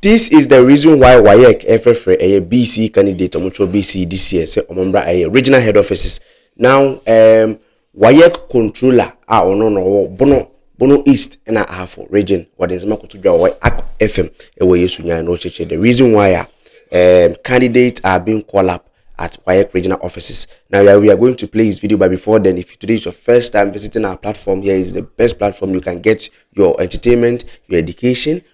This is the reason why waec ɛfrɛfrɛ ɛyɛ BCE candidate ɔmo kyerɛ BCE this year sɛ ɔmo mbra ɛyɛ regional head offices now um, waec controller a ɔno na ɔwɔ bono bono east ɛna ahafo region wɔde nsɛm akoto dwa wɔ ak fm ɛwɔ yesu nyan na ɔkyerɛkyerɛ the reason why a um, candidates are being called up at WAEC regional offices. Now we are, we are going to play his video, but before then, if today is your first time visiting our platform, here is the best platform you can get your entertainment, your education,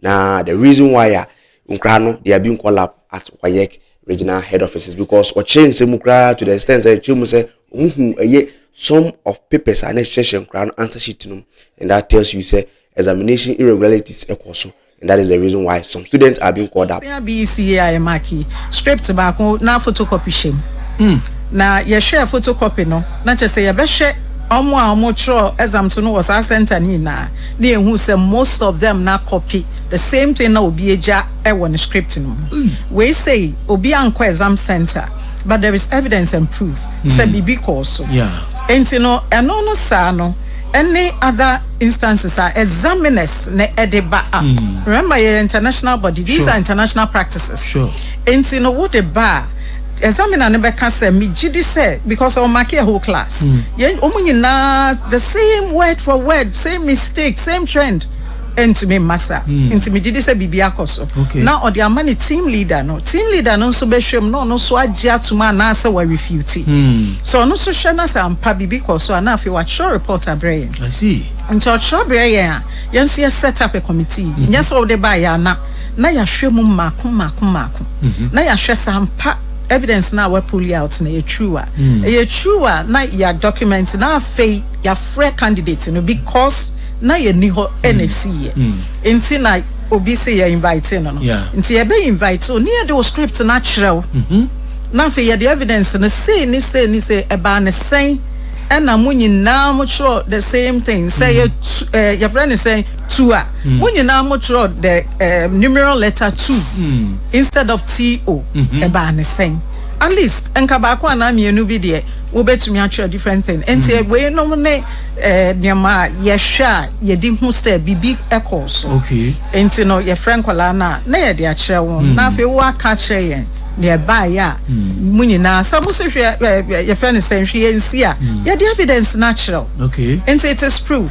Na the reason why a nkura no they are being called up at WAEC regional head offices because ɔkyerɛ nsɛm mu koraa to the extent sɛ ɛkyerɛ mu sɛ wɔn hu ɛyɛ some of papers a na ɛhyehyɛ nkura no answer sheet no and that tells you sɛ examination irregularities ɛkɔ so and that is the reason why some students are being called up. Sɛn BECA a yɛ mark yi script baako na photocopy hyɛ mu hmm. na yɛhwɛ photocopy no na kyerɛ sɛ yɛbɛhwɛ wɔn a wɔtwerɛ exam to no wɔ saa center no nyinaa. na yɛhu sɛ most of them na copy the same thing na obi agya wɔ ne script no mu. Wei sei obi ankɔ exam center but there is evidence and proof sɛ biribi kɔɔ so. Enti no ɛno no saa no ɛne other instances a examiners na ɛde ba a, remember yɛyɛ international body, these are international practices, enti no wode ba a, Examiner no bɛka sɛ megye di sɛ because ɔ mark a whole class yɛn ɔmo nyinaa the same word for word same mistake same trend ɛntumi mma sa nti megye di sɛ biribi akɔ so na ɔde ama ne team leader no team leader no nso bɛhwɛ mu na ɔno nso agye atom anaasɛ wa refute sɛ ɔno nso hwɛ na sɛ ampa biribi kɔ so a na afei wakyerɛ report abrɛ yɛn nti ɔkyerɛ brɛ yɛn a yɛn nso yɛ set up a committee nyɛ sɛ ɔde ba yɛ ana na yɛahwɛ mu mmaako mmaako mmaako, na yɛahwɛ sɛ ampa evidence no a wɔapuli out no yɛ true a, ɛyɛ true a, na yɛadocument, na afei yɛafrɛ candidate no because na yɛnni hɔ na ɛsiiɛ nti na obi se yɛ invite no no. Nti yɛbɛ invite wo ne yɛde wo script no akyerɛ wo, na afei yɛde evidence no sei ne sei ne sei, ɛbaa no sɛn, ɛna mo nyinaa mokyerɛw the same thing, sɛ ɛyɛ tu ɛɛ yɛfrɛ no sɛn, to a mo hmm. nyinaa mo twerɛ the um, numeral letter two hmm. instead of to mm-hmm. ɛbaa ne sɛn at least nka baako anaa mmienu bi deɛ wobɛtumi atwerɛ different thing nti hmm. wei nom ne eh, nneɛma a yɛhwɛ a yɛde hu sɛ biribi ɛkɔɔ so nti no yɛfrɛ nkwadaa no a na yɛde akyerɛ wɔn na afei woaka kyerɛ yɛn deɛ ɛbaeɛ a mu nyinaa sɛ mo so hwɛ yɛfrɛ no sɛ nhwɛ yɛnsi a yɛde evidence no akyerɛ wo nti it is proof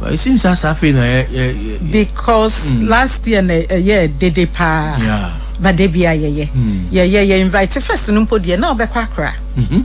Well it seems asa afei na yɛ yɛ yɛ. Because mm. last year na ɛyɛ dede paa. Yeah. But de bia yɛyɛ. Mm. Yɛyɛ yɛ invite first no mpo deɛ na ɔbɛkɔ akora. Mhm.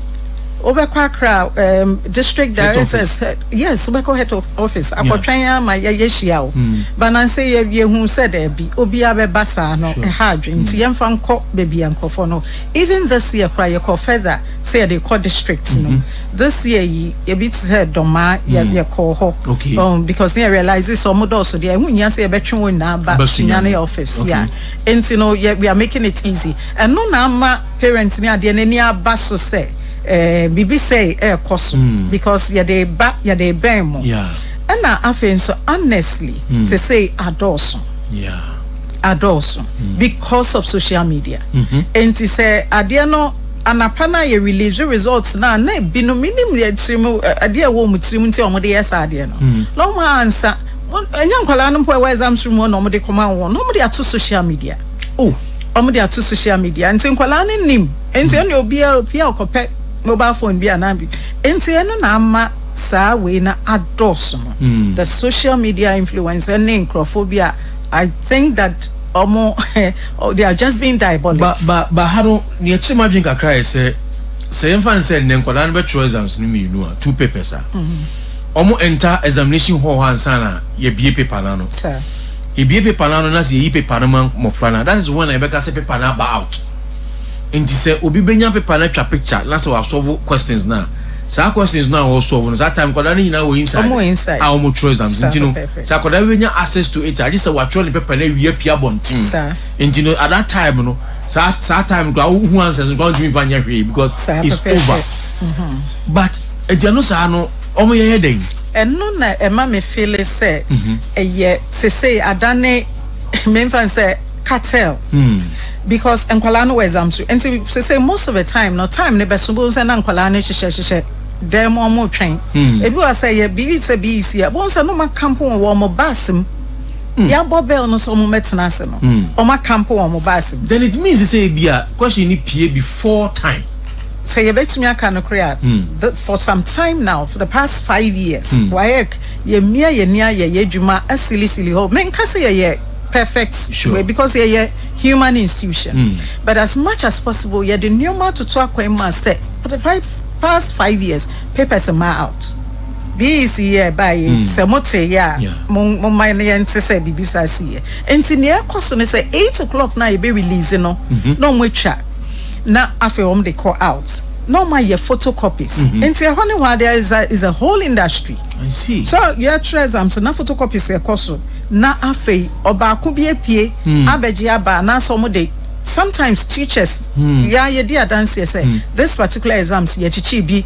Wobɛkɔ akora um, district directors yes wobɛkɔ head of office akɔtwɛn yeah. ama yɛyɛ hyia o. Mm. Banansɛ yɛ yɛhu sɛ daabi obiara bɛba saa no ɛha adwene nti mm. yɛmfa nkɔ baabi a nkurɔfoɔ no even this year kora yɛkɔ further sɛ yɛde kɔ district no. Mm -hmm. this year yi ebi te sɛ dɔmaa yɛ hmm. yɛ kɔɔ hɔ okay um, because yɛ realize sɛ ɔmo dɔɔso deɛ ɛho nyia sɛ yɛbɛtwe wɔn nyinaa ba sunyane office okay. yeah nti no yɛ we are making it easy ɛno na ama parents ni adeɛ n'ani aba so sɛ ɛɛ eh, biribi sɛ ɛɛkɔ so hmm. because yɛde ba yɛde bɛn mo ɛna afei nso honestly hmm. sɛ sɛ adɔɔso. Yeah adɔɔso mm. because of social media mm-hmm. nti sɛ adeɛ no Anapa no a yɛ release results no a na binom menim deɛ tirim adeɛ a ɛwɔ wɔn tirim nti a wɔde yɛ saa adeɛ no hmm. na wɔn ansa ɛnyɛ nkwadaa no mpo ɛwɔ exams room hɔ na wɔde kɔma wɔn na wɔde ato social media oh wɔde ato social media nti nkwadaa no nim nti hmm. ɛna obiara pia ɔkɔpɛ mobile phone bi anaa bi nti ɛno na ama saa wei na adɔɔso no hmm. the social media influence ne nkurɔfoɔ bi a I think that wɔn they are just being diabolic. Ba ba ba ha no. Nea ɛkyere m'adwene kakra yɛ sɛ, sɛ yɛmfa no sɛ nnɛ nkwadaa no bɛtwerɛ exams no mmienu a, two papers a, wɔn enter examination hall hɔ ansa na yɛabue paper no ano. Yɛbue paper no ano na sɛ yɛyi paper no ma mmɔfra no a, that is when na yɛbɛka sɛ paper no aba out. Nti sɛ obi bɛnya paper no atwa picture na sɛ wasɔvo questions no a, saa questions no a ɔresɔvo no, saa time nkwadaa no nyinaa wɔ inside a wɔtwerɛ exams nti no, sɛ akwadaa bi bɛnya access to it a, gye sɛ watwerɛ ne paper no awie apue abɔnten. Nti no at that time no saa saa time no koraa wohu answers no koraa wontumi nfa nyɛ hwee because Saa it's pɛpɛɛpɛ. over but agya no saa no wɔn yɛyɛ dɛn. Ɛno na ɛma me feele sɛ ɛyɛ sesei adane memfa no sɛ cartel because nkwadaa no wɔ exam so nti sesei most of the time no time no bɛso bohu sɛ na nkwadaa no hyehyɛ hyehyɛ dan mu wɔn retwɛn ebi wɔ sɛ yɛ biribi sɛ bii si a bohu sɛ no ma camp wɔ wɔn bus mu Yɛabɔ bell no sɛ wɔmmɛtena ase no, wɔaka mpo wɔ wɔn bus mu. Then it means sɛ ebia question no pue before time. Sɛ yɛbɛtumi aka nokorɛ a, the, for some time now, for the past five years, WAEC, yɛamia yɛn ani ayɛ yɛn adwuma silly silly hɔ. Menka sɛ yɛyɛ perfect wei, Sure. because yɛyɛ human institution. But as much as possible, yɛde nneɛma atoto akwan mu a sɛ, for the five, past five years, papers mmaa out. Bii si yɛ ɛbaa yɛ yi sɛ mo te yɛ a mo mo ma yɛ nte sɛ bibi saa si yɛ nti nea ɛkɔ so ne sɛ eight o'clock na yɛbɛ release no na ɔmo atwa na afei ɔmo de kɔ out na ɔmo ayɛ photo copies nti ɛhɔ ne hɔ there is a is a whole industry so yɛtwerɛ exam so na photo copies ɛkɔ so na afei ɔbaako bi apue abɛgye aba anaasɛ ɔmo de sometimes teachers yɛ a yɛdi adanseɛ sɛ this particular exams yɛkyekyere bi.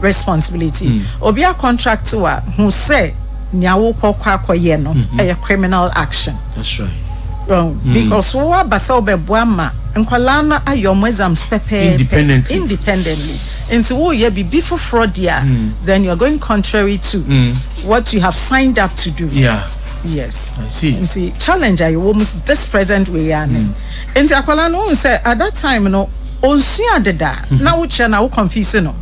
responsibility obi a contract wa hu sɛ nea wokɔ kɔ akɔyɛ no ɛyɛ criminal action That's right. Well, because wo aba sɛ wobɛboa ma nkwadaa no ayɛ wɔn exams pɛpɛɛpɛ Independently. independently nti woyɛ biribi foforɔ deɛ a then you are going contrary to what you have signed up to do Yeah, yes I see. nti challenge a yɛwɔ mu this present way a ne Nti akwadaa no wohu sɛ at that time no ɔnsua ade da na wokyerɛ no a wo confuse no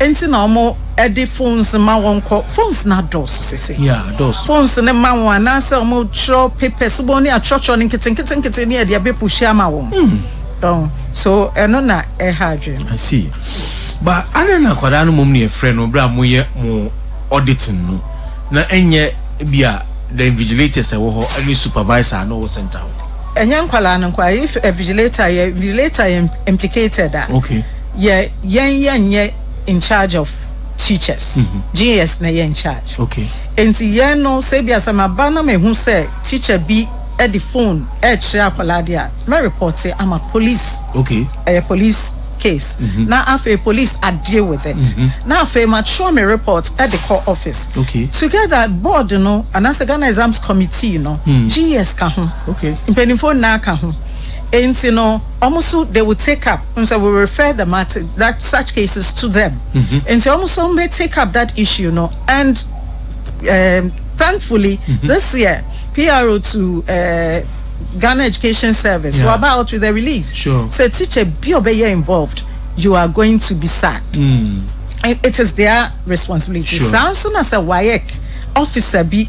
nti na wɔde phones ma wɔn kɔ phones no adɔɔso sesei Yeah adɔɔso. phones no ma wɔn anaasɛ wɔtwerɛ papers wobɛhu ne atwerɛtwerɛ no nketenketenkete ne yɛde abɛ push ama wɔn Ɔho so ɛno na ɛha adwene no. I see but adɛn na akwadaa no mmom na yɛfrɛ no berɛ a moyɛ mo auditing no na ɛnyɛ ebia the invigilators a ɛwɔ hɔ ne supervisor a na ɔwɔ centre hɔ. Ɛnyɛ nkwadaa no nko a, if a vigilator yɛ vigilator yɛ implicated a, okay. yɛ yɛn yɛn yɛ in charge of teachers, mm -hmm. GS na yɛ in charge. Okay. Nti yɛn no sɛ ebi asɛm aba na mehu sɛ teacher bi ɛde phone ɛkyerɛ akwadaa de a, mɛ report ama police. Okay. Ɛyɛ police. case na afei police a deal with it na afei ma twerɛ me report de kɔ office together board no anaasɛ Ghana exams committee no GS ka ho mpanimfoɔ nyinaa ka ho nti no wɔn so they will take up n sɛ we refer the matter that such cases to them nti wɔn so wɔn bɛ take up that issue no and um, thankfully this year PRO to uh, Ghana education service yeah. waba out with a release sure. sɛ teacher bi ɔbɛyɛ involved you are going to be sacked mm. it is their responsibility saa nso na sɛ wayɛ officer bi